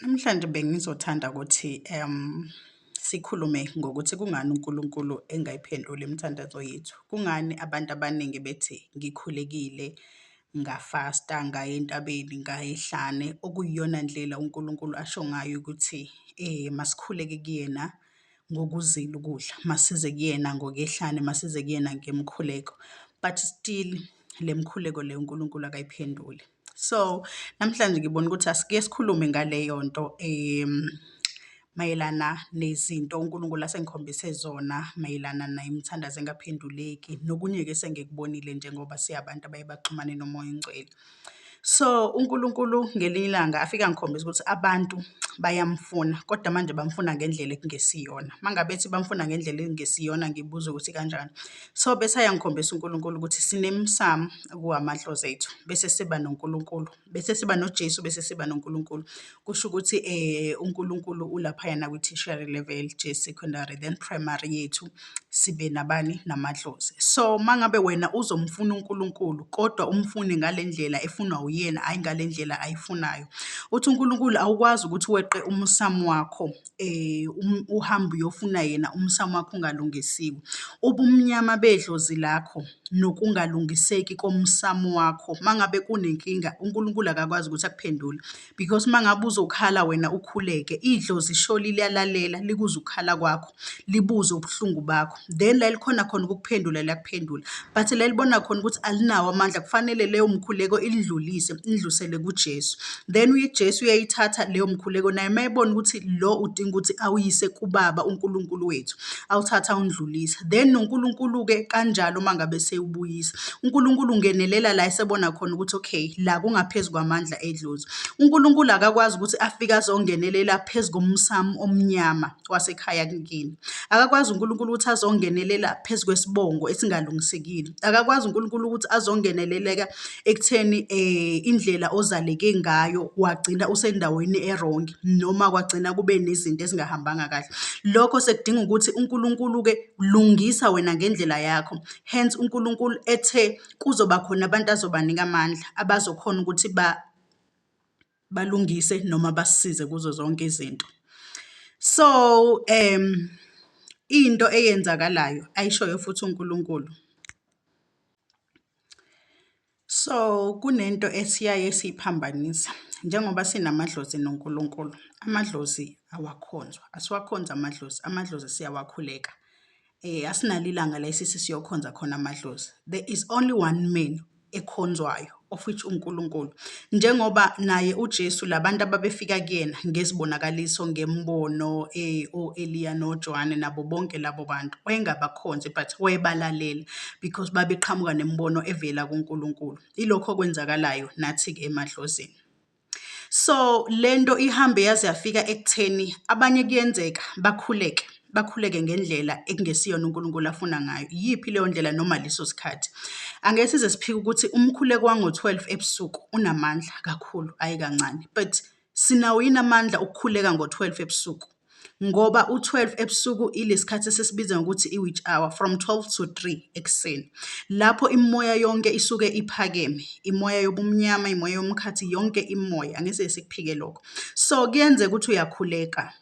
Namhlanje bengizothanda ukuthi sikhulume ngokuthi kungani uNkulunkulu engayiphenduli imithandazo yethu. Kungani abantu abaningi bethi ngikhulekile, ngafasta, ngaya entabeni, ngaya ehlane, okuyiyona ndlela uNkulunkulu asho ngayo ukuthi masikhuleke kuyena ngokuzila ukudla, masize kuyena ngokwehlane, masize kuyena ngemkhuleko but still le mkhuleko le uNkulunkulu akayiphenduli. So namhlanje ngibona ukuthi asike sikhulume ngaleyo nto um mayelana nezinto uNkulunkulu asengikhombise zona mayelana nemithandazo engaphenduleki nokunye-ke sengikubonile njengoba siyabantu abaye baxhumane nomoya ongcwele. So uNkulunkulu ngelinye ilanga afike angikhombisa ukuthi abantu bayamfuna kodwa manje bamfuna ngendlela ekungesiyona. Uma ngabe ethi bamfuna ngendlela ekungesiyona ngibuza ukuthi kanjani? So bese ayangikhombisa uNkulunkulu ukuthi sinemsamo kuwamadlozi ethu bese siba noNkulunkulu bese siba noJesu bese siba noNkulunkulu kusho ukuthi eh uNkulunkulu ulapha yana kwi tertiary level je secondary then primary yethu sibe nabani namadlozi so mangabe wena uzomfuna uNkulunkulu kodwa umfune ngalendlela efunwa uyena hayi ngalendlela ayifunayo uthi uNkulunkulu awukwazi ukuthi weqe umsamo wakho uhambe uyofuna yena umsamo wakho ungalungisiwe. Ubumnyama bedlozi lakho nokungalungiseki komsamo wakho uma ngabe kunenkinga uNkulunkulu akakwazi ukuthi akuphendule because uma ngabe uzokhala wena ukhuleke idlozi sho liyalalela likuzwe ukukhala kwakho libuze ubuhlungu bakho. then lalikhona khona ukukuphendula liyakuphendula but lalibona khona ukuthi alinawo amandla kufanele leyo mkhuleko ilidlulise idlusele kuJesu then uJesu uyayithatha leyo mkhuleko naye mayebona ukuthi lo udinga ukuthi awuyise kubaba uNkulunkulu wethu awuthatha undlulisa then noNkulunkulu ke kanjalo uma ngabe sewubuyisa uNkulunkulu ungenelela la esebona khona ukuthi okay la kungaphezulu kwamandla edlozi uNkulunkulu akakwazi ukuthi afike azongenelela phezu komsamo omnyama wasekhaya kini. Akakwazi uNkulunkulu ukuthi azongenelela phezu kwesibongo esingalungisekile. Akakwazi uNkulunkulu ukuthi azongeneleleka ekutheni eh indlela ozaleke ngayo wagcina usendaweni erongi noma kwagcina kube nezinto ezingahambanga kahle. Lokho sekudinga ukuthi uNkulunkulu ke lungisa wena ngendlela yakho. Hence uNkulunkulu ethe kuzoba khona abantu azobanika amandla abazokhona ukuthi ba balungise noma basisize kuzo zonke izinto. So um into eyenzakalayo ayishoyo futhi uNkulunkulu. So kunento esiyaye siyiphambanisa njengoba sinamadlozi noNkulunkulu, amadlozi awakhonzwa, asiwakhonzi amadlozi, amadlozi siyawakhuleka Eh asinalo ilanga la isisi siyokhonza khona amadlozi. There is only one man ekhonzwayo of which uNkulunkulu. Njengoba naye uJesu labantu ababefika kuyena ngezibonakaliso ngembono eh oEliya noJohane nabo bonke labo bantu wayengabakhonzi but wayebalalela because babeqhamuka nembono evela kuNkulunkulu. Ilokho okwenzakalayo nathi ke emadlozini. So le nto ihambe yaze yafika ekutheni abanye kuyenzeka bakhuleke, bakhuleke ngendlela ekungesiyona uNkulunkulu afuna ngayo. Iyiphi leyo ndlela noma leso sikhathi? Angeke size siphike ukuthi umkhuleko wango-twelve ebusuku unamandla kakhulu, hhayi kancane. But sinawo yini amandla okukhuleka ngo-twelve ebusuku? ngoba u-twelve ebusuku ilesikhathi esisibiza ngokuthi i-witch hour from twelve to three ekuseni. Lapho imimoya yonke isuke iphakeme, imoya yobumnyama, imoya yomkhathi, yonke imimoya, angise sikuphike lokho. So kuyenzeka ukuthi uyakhuleka,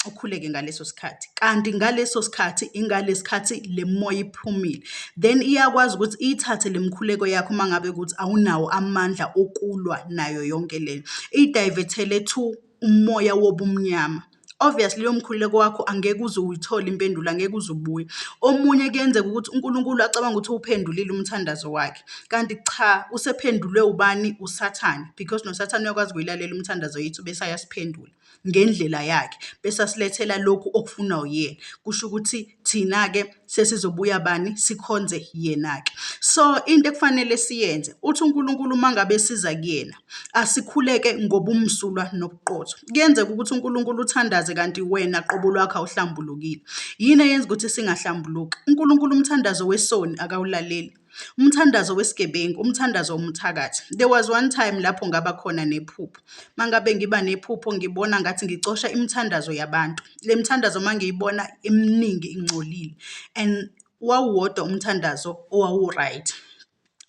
ukhuleke ngaleso sikhathi, kanti ngaleso sikhathi ingalesikhathi le mimoya iphumile. Then iyakwazi ukuthi iyithathe le mikhuleko yakho uma ngabe kuthi awunawo amandla okulwa nayo yonke lena, iyidayivethele to umoya wobumnyama, obviously loyo mkhuleko wakho angeke uze uyithole impendulo, angeke uze ubuye. Omunye kuyenzeka ukuthi uNkulunkulu acabange ukuthi uwuphendulile umthandazo wakhe, kanti cha usephendulwe ubani? Usathane because nosathane uyakwazi ukuyilalela umthandazo yethu bese ayasiphendula ngendlela yakhe, bese asilethela lokhu okufunwa uyena, kusho ukuthi. thina-ke sesizobuya bani sikhonze yena-ke so into ekufanele siyenze uthi unkulunkulu uma ngabe siza kuyena asikhuleke ngobumsulwa nobuqotho kuyenzeka ukuthi unkulunkulu uthandaze kanti wena qobo lwakho awuhlambulukile yini eyenza ukuthi singahlambuluki unkulunkulu umthandazo wesoni akawulaleli Umthandazo wesigebengu, umthandazo womthakathi. There was one time lapho ngaba khona nephupho. Mangabe ngiba nephupho ngibona ngathi ngicosha imithandazo yabantu. Le mithandazo mangiyibona eminingi ingcolile and wawuwodwa umthandazo owawuright.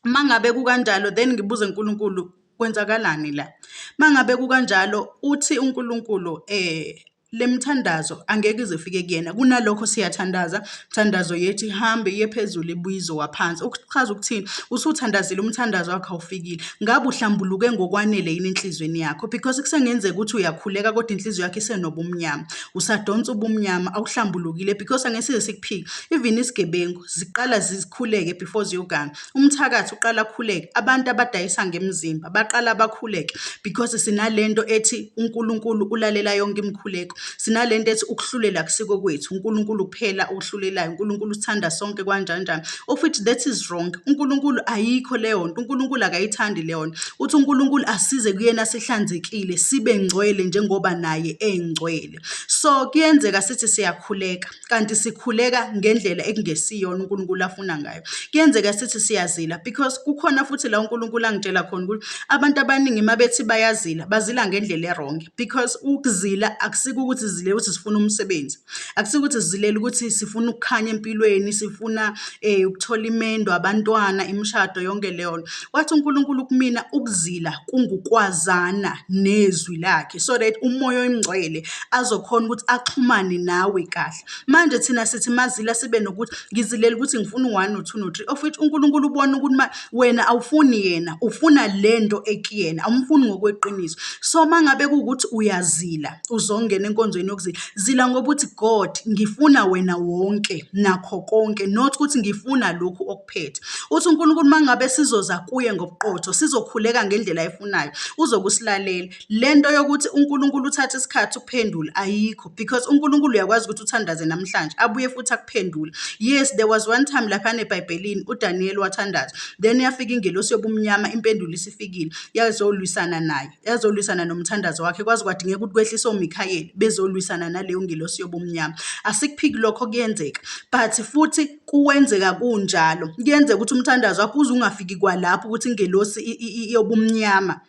Mangabe kukanjalo then ngibuze uNkulunkulu kwenzakalani la? Mangabe kukanjalo uthi uNkulunkulu eh le mithandazo angeke ize ifike kuyena kunalokho siyathandaza mthandazo yethi hambe iye phezulu ibuye izowaphansi ukuchaza ukuthini usuthandazile umthandazo wakho awufikile ngabe uhlambuluke ngokwanele yini enhliziyweni yakho because kusengenzeka ukuthi uyakhuleka kodwa inhliziyo yakho isenobumnyama usadonsa ubumnyama awuhlambulukile because angesize sikuphike even isigebengu ziqala zikhuleke before ziyoganga umthakathi uqala akhuleke abantu abadayisa ngemizimba baqala bakhuleke because sinalento ethi uNkulunkulu ulalela yonke imikhuleko sinalento ethi ukuhlulela kusiko kwethu uNkulunkulu kuphela okuhlulelayo uNkulunkulu uthanda sonke kanjani njani of which that is wrong uNkulunkulu ayikho leyo nto uNkulunkulu akayithandi leyo nto uthi uNkulunkulu asize kuyena sihlanzekile sibe ngcwele njengoba naye engcwele so kuyenzeka sithi siyakhuleka kanti sikhuleka ngendlela ekungesiyona uNkulunkulu afuna ngayo. Kuyenzeka sithi siyazila because kukhona futhi la uNkulunkulu angitshela khona ukuthi abantu abaningi uma bethi bayazila bazila ngendlela erongi because ukuzila akusiko ukuthi zile ukuthi sifuna umsebenzi akusiko ukuthi sizilela ukuthi sifuna ukukhanya empilweni sifuna eh ukuthola imendo abantwana imishado yonke leyo nto wathi uNkulunkulu kumina ukuzila kungukwazana nezwi lakhe so that umoya oyingcwele azokhona ukuthi axhumane nawe kahle. Manje thina sithi mazila sibe nokuthi ngizilela ukuthi ngifuna u-one no-two no-three of which uNkulunkulu ubona ukuthi ma wena awufuni yena, ufuna le nto ekuyena, awumfuni ngokweqiniso. So uma ngabe kuwukuthi uyazila uzongena enkonzweni yokuzila, zila ngoba uthi God ngifuna wena wonke nakho konke not ukuthi ngifuna lokhu okuphethe. Uthi uNkulunkulu uma ngabe sizoza kuye ngobuqotho sizokhuleka ngendlela ayifunayo uzobe usilalela. Le nto yokuthi uNkulunkulu uthatha isikhathi ukuphendula ayikho because uNkulunkulu uyakwazi ukuthi uthandaze namhlanje abuye futhi akuphendule. Yes, there was one time laphana eBhayibhelini uDaniyeli wathandaza, then yafika ingelosi yobumnyama impendulo isifikile, yazolwisana naye, yazolwisana nomthandazo wakhe kwaze kwadingeka ukuthi kwehlise oMikhayeli bezolwisana naleyo ngelosi yobumnyama. Asikuphiki lokho kuyenzeka but futhi kuwenzeka kunjalo. Kuyenzeka ukuthi umthandazo wakho uze ungafiki kwalapho ukuthi ingelosi yobumnyama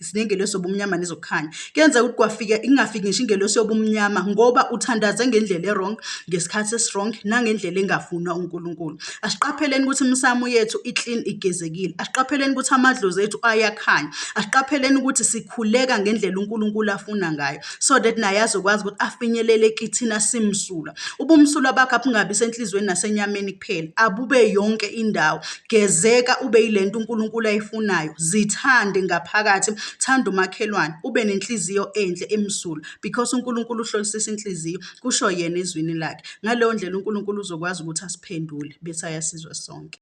sinengelosi yobumnyama nezokukhanya kuyenzeka ukuthi kwafika ingafiki ngisho ingelosi yobumnyama ngoba uthandaze ngendlela e-wrong ngesikhathi esi-wrong nangendlela engafunwa uNkulunkulu asiqapheleni ukuthi imisamu yethu i-clean igezekile asiqapheleni ukuthi amadlozi ethu ayakhanya asiqapheleni ukuthi sikhuleka ngendlela uNkulunkulu afuna ngayo so that naye azokwazi ukuthi afinyelele kithina simsulwa ubumsulwa bakho abungabi senhliziyweni nasenyameni kuphela, abube yonke indawo. Gezeka ube yile nto uNkulunkulu ayifunayo, zithande ngaphakathi, thanda umakhelwane, ube nenhliziyo enhle emsulwa because uNkulunkulu uhlolisisa inhliziyo, kusho yena ezwini lakhe. Ngaleyo ndlela uNkulunkulu uzokwazi ukuthi asiphendule bese ayasizwa sonke.